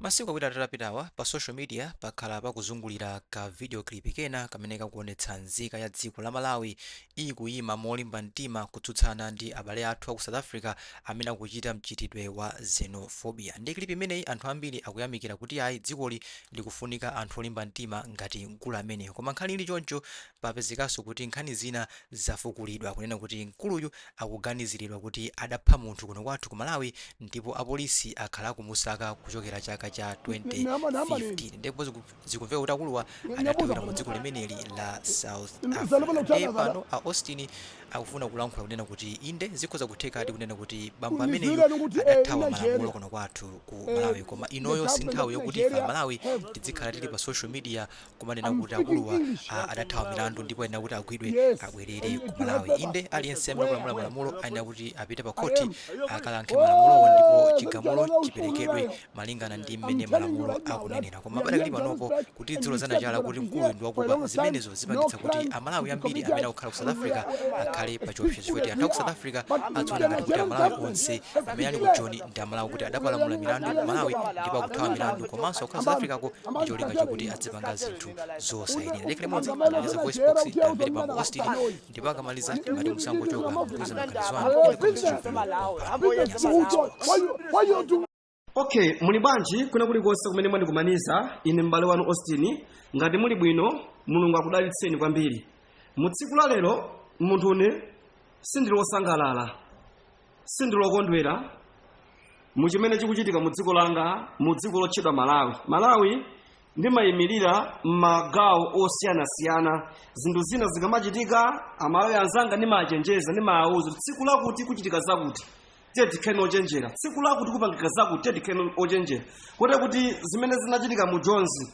Masiku awiri atatu apitawa, pa social media pakhala pakuzungulira ka video clip kena kamene kakuonetsa nzika ya dziko la Malawi ikuyima molimba mtima kutsutsana ndi abale athu aku South Africa amene akuchita mchitidwe wa xenophobia. Ndi clip imeneyi anthu ambiri akuyamikira kuti ayi dzikoli likufunika anthu olimba mtima ngati mkulu ameneyu. Koma nkhani ili choncho, Papezekanso kuti nkhani zina zafukulidwa kunena kuti mkuluyu akuganizilidwa kuti adapha munthu kuno kwathu ku Malawi ndipo apolisi akhala akumusaka kuchokera chaka cha 2015 ndipo zikumveka kuti akuluwa adathawira mu dziko limeneli la South Africa nde pano a Austin akufuna kulankhula kunena kuti inde zikhoza kuthekadi kunena kuti bambo ameneyu adathawa malamulo kuno kwathu ku Malawi koma inoyo sinthawi yokuti ife a Malawi tidzikhala tili pa social media kumanena kuti akuluwa a- adathawa milandu ndipo ayenera kuti agwidwe abwerere ku malawi inde aliyense amene akuphwanya malamulo ayenera kuti apite pa khoti akayankhe milanduwo ndipo chigamulo chiperekedwe malingana ndi mmene malamulo akunenera koma padakali panopo kuti tidzilozana chala kuti mkuluyu ndi wakupha zimenezo zipangitsa kuti amalawi ambiri amene akukhala ku south africa akhale pa chiopsezo choti anthu aku south africa adziwona ngati kuti amalawi onse amene ali ku joni ndi amalawi kuti adapalamula milandu ku malawi ndipo akuthawa milandu komanso akukhala south africa ko ndicholinga chokuti adzipanga zinthu zosayenera apa ndi mmodzi anapeza voice box tamvere bambo austin ndipo akamaliza ngati musangochoka mutiuza maganizo anu in the comment section okay muli bwanji kuna kulikonse kumene mwandikumaniza ine m'bale wanu austin ngati muli bwino mulungu akudalitseni kwambiri mu tsiku la lero munthune sindili wosangalala sindilokondwera mu chimene chikuchitika mu dziko langa mu dziko lotchedwa malawi malawi ndimayimirira m'magawo osiyanasiyana zinthu zina zikamachitika amalawi anzanga ndimachenjeza ndimawauza tsiku lakuti kuchitika zakuti tiyeni tikhale ochenjera tsiku lakuti kupangika zakuti tiyeni tikhale ochenjera kote kuti zimene zinachitika mu jonzi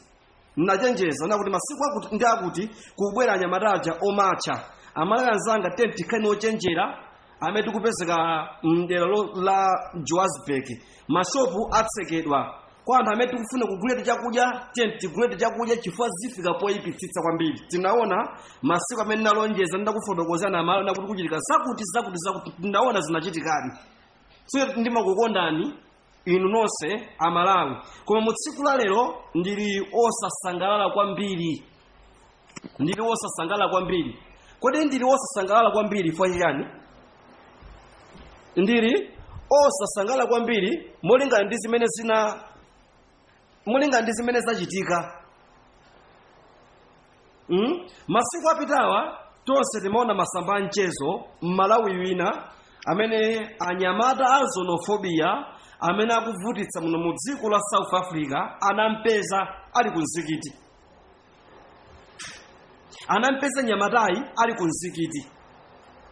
ndinachenjeza nakuti masiku akuti ndi akuti kubwera anyamata aja omatcha amalawi anzanga tiyeni tikhale ochenjera amene tikupezeka mdera la johannesburg mashopu atsekedwa kwa anthu amene tikufuna kuguliratu chakudya tiyeni tiguliretu chakudya chifukwa zifika poyipitsitsa kwambiri tinaona masiku amene ndinalonjeza ndakufotokozana amalawi nakuti kuchitika zakuti zakuti zakuti tinaona zinachitikadi so ndimakukondani inu nonse amalawi koma mu tsiku la lero ndili osasangalala kwambiri ndili osasangalala kwambiri kodi ndili osasangalala kwambiri fwa chiyani ndili osasangalala kwambiri molingana ndi zimene zina mulinga ndi zimene zachitika mm? masiku apitawa tonse timaona masamba a mchezo mmalawi wina amene anyamata a xenophobia amene akuvutitsa muno mu dziko la south africa anampeza ali ku mzikiti anampeza mnyamatayi ali ku mzikiti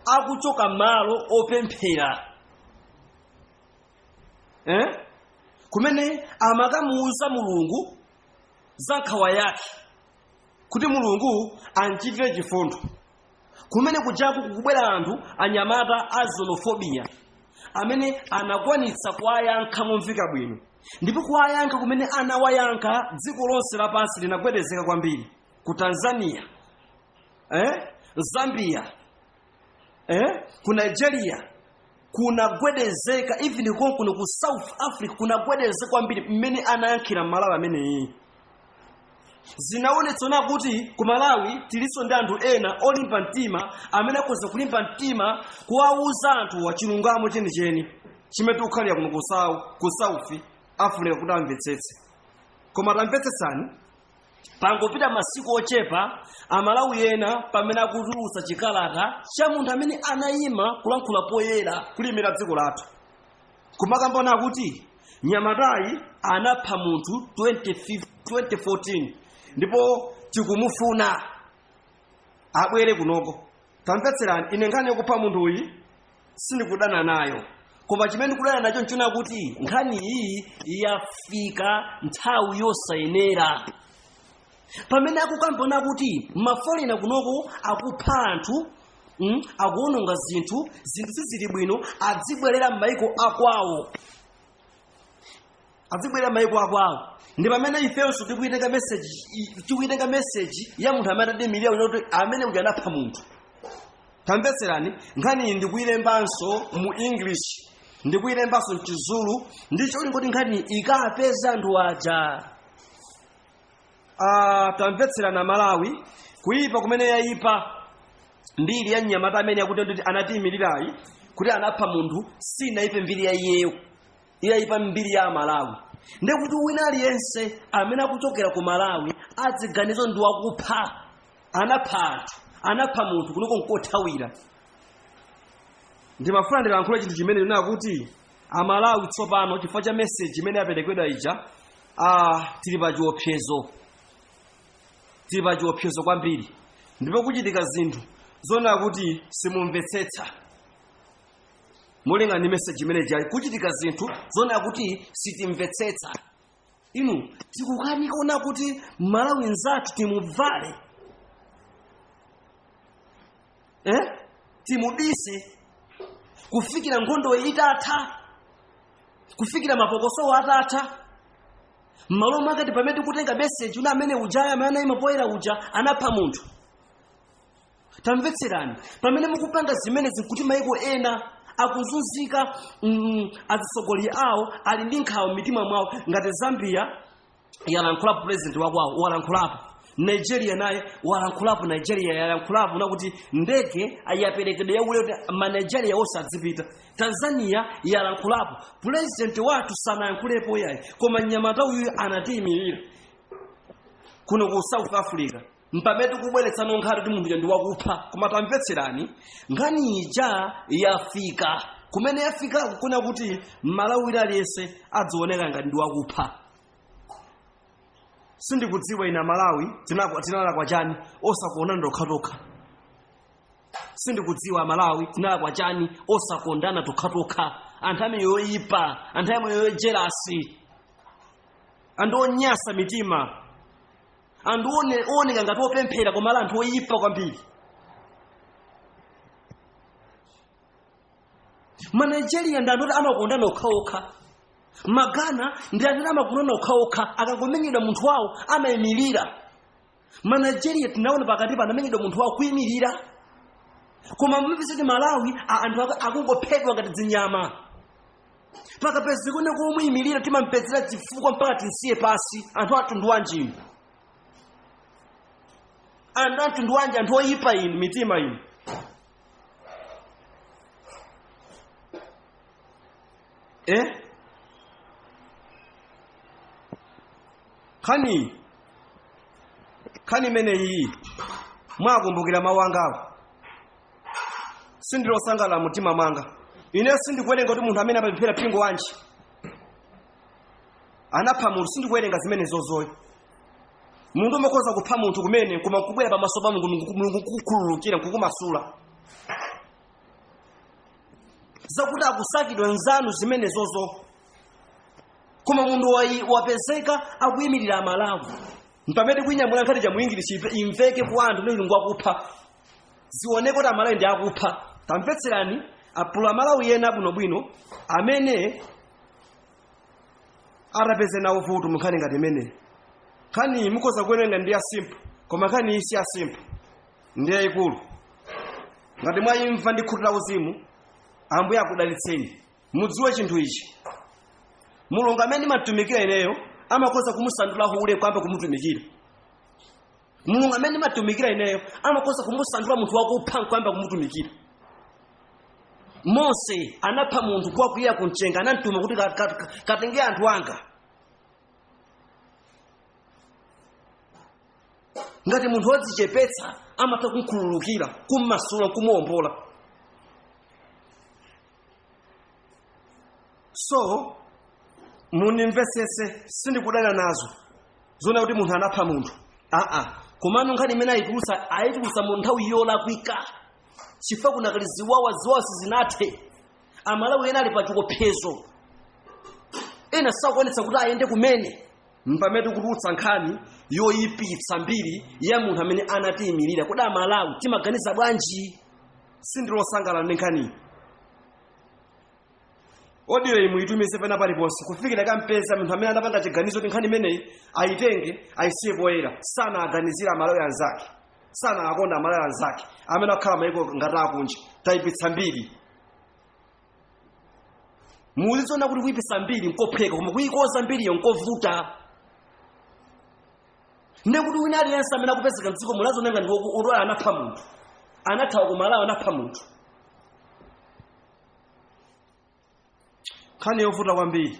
akuchoka malo opemphera eh? kumene amakamuuza mulungu za nkhawa yake kuti mulungu amchitire chifundo kumene kujaku kukubwera anthu anyamata a xenophobia amene anakwanitsa kuwayankha momveka bwino ndipo kuwayankha kumene anawayankha dziko lonse lapansi linagwedezeka kwambiri ku tanzania eh? zambia eh? ku nigeria kunagwedezeka even konkuno ku south africa kunagwedezeka kwambiri mmene anayankhira mmalawi ameneyi zinaonetsa kunena kuti ku malawi tilinso ndi anthu ena olimba mtima amene akhoza kulimba mtima kuwauza anthu wachilungamo chenicheni chimene tikukhalira kuno ku Sau- ku south africa kuti amvetsetse koma tamvetsetsani pangopita masiku ochepa amalawi ena pamene akutulutsa chikalata cha munthu amene anayima kulankhula poyera kulimira dziko lathu kumakamba kunena kuti mnyamatayi anapha munthu 2014 ndipo tikumufuna abwere kunoko tamvetserani ine nkhani yokupha munthu uyi sindikudana nayo koma chimene ndikudana nacho nchonena kuti nkhani iyi yafika nthawi yosayenera pamene akukamba kunena kuti mafolena kunoko akupha anthu mm, akuononga zinthu zinthu sizili bwino adzibwerera m'mayiko akwawo adzibwerera maiko akwawo ndi pamene ifenso tikuitenga message i- tikuitenga message ya munthu amene anatiimilira uja kuti amene uja anapha munthu tamvetserani nkhaniyi ndikuilembanso mu english ndikuilembanso mchizulu ndi cholinga choti nkhaniyi ikapeza anthu aja Ah, tamvetserani amalawi kuipa kumene yaipa mbiri ya mnyamata amene akuti kuti anatiimilirayi kuti anapha munthu sinaipe mbiri ya iyeyo yaipa mbiri ya amalawi ndekuti wina aliyense amene akuchokera ku malawi adziganiza kuti ndi wakupha anapha anthu anapha munthu kunoko ngothawira ndimafuna ndilankhule chinthu chimene ndinena kuti amalawi tsopano chifukwa cha meseji imene yaperekedwa ija ah, tili pa chiopsezo tili pa chiopsezo kwambiri ndipo kuchitika zinthu zonena kuti simumvetsetsa molingana ndi meseji imene ijayi kuchitika zinthu zoona kuti sitimvetsetsa inu tikukanika onanso kuti malawi nzathu timubvale eh? timubise kufikira nkhondo itatha kufikira mapokosowo atatha mmalo mwake mpamene tikutenga meseji uja amene ujayo amene anayima poyera uja anapha munthu tamvetserani pamene mukupanga zimenezi nkuti maiko ena akuzunzika mm, azitsogoleri awo ali ndi nkhawa mmitima mwawo ngati zambia yalankhulapo president wakwawo walankhulapo nigeria naye walankhulapo nigeria yalankhulapo nakuti ndege yaperekedwa yaulele kuti manigeria onse adzipita tanzania yalankhulapo president wathu sanayankhulepo yayi koma mnyamata uyu anatiyimirira kuno ku south africa mpamene tikubweretsano nkhani kuti munthu uja ndi wakupha koma tamvetserani nkhani ija yafika kumene yafika kufuna kuti mmalawi wina aliyense adzioneka ngati ndi wakupha sindikudziwa ine amalawi tinakwa- tinalakwa chani osakondana tokhatokha sindikudziwa amalawi tinalakwa chani osakondana tokhatokha anthu amene yoyipa anthu amene yojelasi anthu onyasa mitima anthu one- ooneka ngati opemphera koma ali anthu oyipa kwambiri manigeria ndi anthu oti amakondana okhaokha magana ndi anthu oti amakondana okhaokha akangomenyedwa munthu wawo amayimirira manigeria tinaona pakatipo anamenyedwa munthu wawo kuyimirira koma mumapeza kuti amalawi a- anthu aku- akungophedwa ngati zinyama pakapezeke ndi womuyimirira timampezera zifukwa mpaka timsiye pansi anthu amtundu wanji inu anthu amtundu wanji anthu oyipa inu mitima inu eh nkhani nkhani imeneyi mwakumbukira mawu angawa sindili osangalala mumtima mwanga ine sindikuwerenga kuti munthu amene amapemphera mpingo wanji anapha munthu sindikuwerenga zimenezozo ayi munthu umakhoza kupha munthu kumene koma kubwera pamaso pa mulungu Mulungu- mulungu kukukhululukira kukumasula zakuti akusakidwa nzanu zimenezozo koma munthu wayi- wapezeka akuyimirira amalawi mpamene kuinyamula nkhani ija muingilishi imveke kwa anthu ndi mulungu akupha zioneke kuti amalawi ndi akupha tamvetserani apulu amalawi ena abwinobwino amene atapeze nawo vuto munkhani ngati imeneyi nkhaniyi mukhoza kuwerenga ndi ya simple koma nkhani iyi si ya simple ndi yayikulu ngati mwayimva ndi khutu la uzimu ambuye akudalitseni mudziwe chinthu ichi mulungu amene ndimatumikira ineyo amakhoza kumusandula hule nkuyamba kumutumikira mulungu amene ndimatumikira ineyo amakhoza kumusandula munthu wakupha nkuyamba kumutumikira mose anapha munthu nkukwirira kumchenga anamtuma kuti ka- ka- ka- katenge anthu anga ngati munthu wadzichepetsa amatha kumkhululukira kummasula nkumuombola so mundimvetsetse sindikudana nazo zoona kuti munthu anapha munthu aa komano nkhani imene ayitulutsa ayitulutsa mu nthawi yolakwika chifukwa kunakali ziwawa ziwawa sizinathe amalawi ena ali pa chiopsezo ena sakuonetsa kuti ayende kumene mpamene tikutulutsa nkhani yoyipitsa mbiri ya munthu amene anatiyimirira kodi amalawi timaganiza bwanji sindili osangalala ndi nkhaniyi audio iyi muitumize pena paliponse kufikira ikampeza munthu amene anapanga chiganizo kuti nkhani imeneyi ayitenge ayisiye poyera sanawaganizira amalawi anzake sanawakonda amalawi anzake amene akukhala maiko ngati akunja tayipitsa mbiri muzizona kuti kuyipitsa mbiri nkophweka koma kuyikoza mbiriyo nkovuta ndiye kuti wina aliyense amene akupezeka mdziko muno azionenga ndi woku- odwala anapha munthu anathawa ku malawi anapha munthu nkhani yovuta kwambiri